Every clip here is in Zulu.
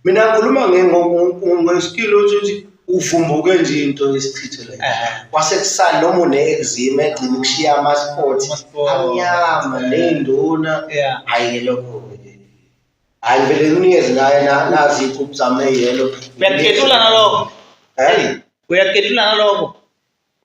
mina ngikhuluma ngeskili ukuthi uvumbuke nje into yesichitho le kwasekusani noma une-exima egcina ukushiya amaspoti amnyama ney'nduna hhayi-ke lokho hhayi vele nginikeze naye nazi iy'khubu zami eyelo uyakuketula naloko uyakuketula naloko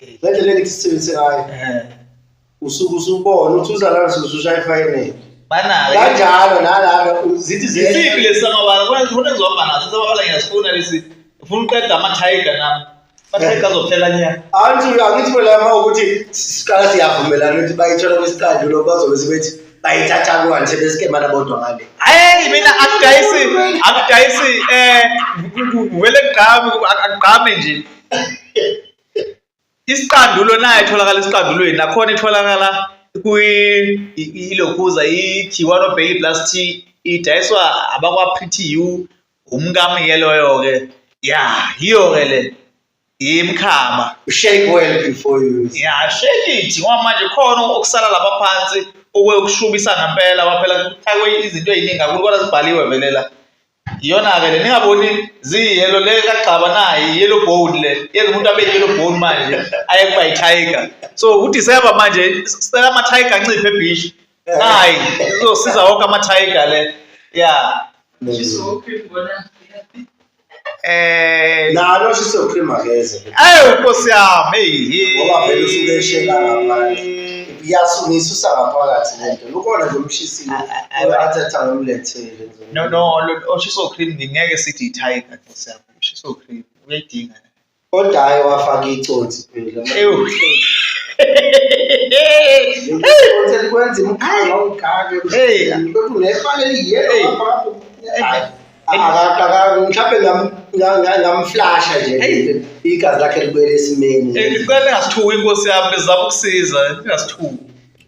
Ngendlela engithi sisebenzise ngayo Eh. usuke usubona ukuthi uzalana usushaya ifakenele. Banayo. Kanjalo nalana zithi Isiphi ziye lesi samabala? Kona ngifuna ngizobamba naso samabala ngiyasifuna lesi. Ngifuna uqeda ama tiger nami. Ama tiger azophela nya. anti angithi phela uma ukuthi siqala siyavumelana ukuthi bayithola kwesiqandu lo bazobe sebethi bayithatha kwani sebesikemana bodwa ngale. Hayi mina akudayisi akudayisi eh ngivele ngigqame akugqame nje. isiqandulo nayo itholakala esiqandulweni nakhona itholakala kwilokuza i-kiwano bailey plus t idayiswa abakwa-pretty u umkami ke loyo-ke ya yiyo-ke le yimkhama shake well before you ya shake it ngoba manje khona okusala lapha phansi okuyokushubisa ngempela waphela kuthakwe izinto eziningi kakhulu kodwa zibhaliwe vele la iyona-ke le ningaboni ziyiyelo le kagxaba naye yellow bone le yenza umuntu abe yellow bone manje aye kuba yi-tiger so udisemba manje sicela ama-tiger anciphe ebhishi nayi izosiza wonke ama-tiger le ya Eh nalo shiso cream akeze. Ayo nkosi yami hey. Ngoba vele usuke eshela ngaphandle. Iyasungisa usangaphakathi lento. Lukona nje umshisile. Uyathi athange umlethele. no no oshiso oh, cream ngeke sithi tiger nkosi yami oshiso oh, cream uyayidinga kodwa hayi wafaka icotsi phela ewu Uthe likwenza imikhala ongikake. Hey, lokhu nefane liyelo lapho. Akaqaka mhlawumbe ngam ngamflasha nje igazi lakhe libuyele esimeni ngicela ningasithuki inkosi yami bezama ukusiza ningasithuki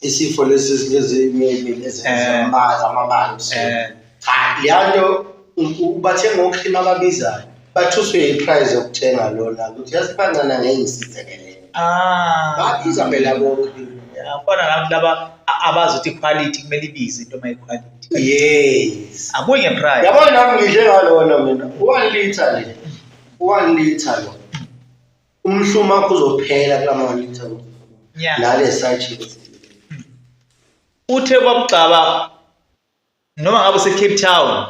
isifo lesi ezinezinyemi nezamabazi eh. amabanzi eh. cha leya nto ubathenga okhima ababizayo bathuswe yiprize yokuthenga lona ukuthi yasibancana ngeke ngisizekele ah. babiza phela bokhima khona labo laba abazi ukuthi iquality kumele ibize into uma iquality yes abuye ngeprice yabona nami ngidle ngalona mina 1 liter le 1 liter lo umhluma uzophela kula mawalitha Yeah. lale sajini uthe kwakugcaba noma ngabe usecape town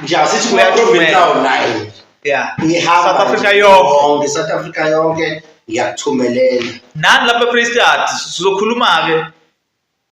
nje asithi kuya Uyaqhubeka. province town naye ya ngihamba South Africa nje yonke. yonke South Africa yonke ngiyakuthumelela nani lapha efreestad sizokhuluma-ke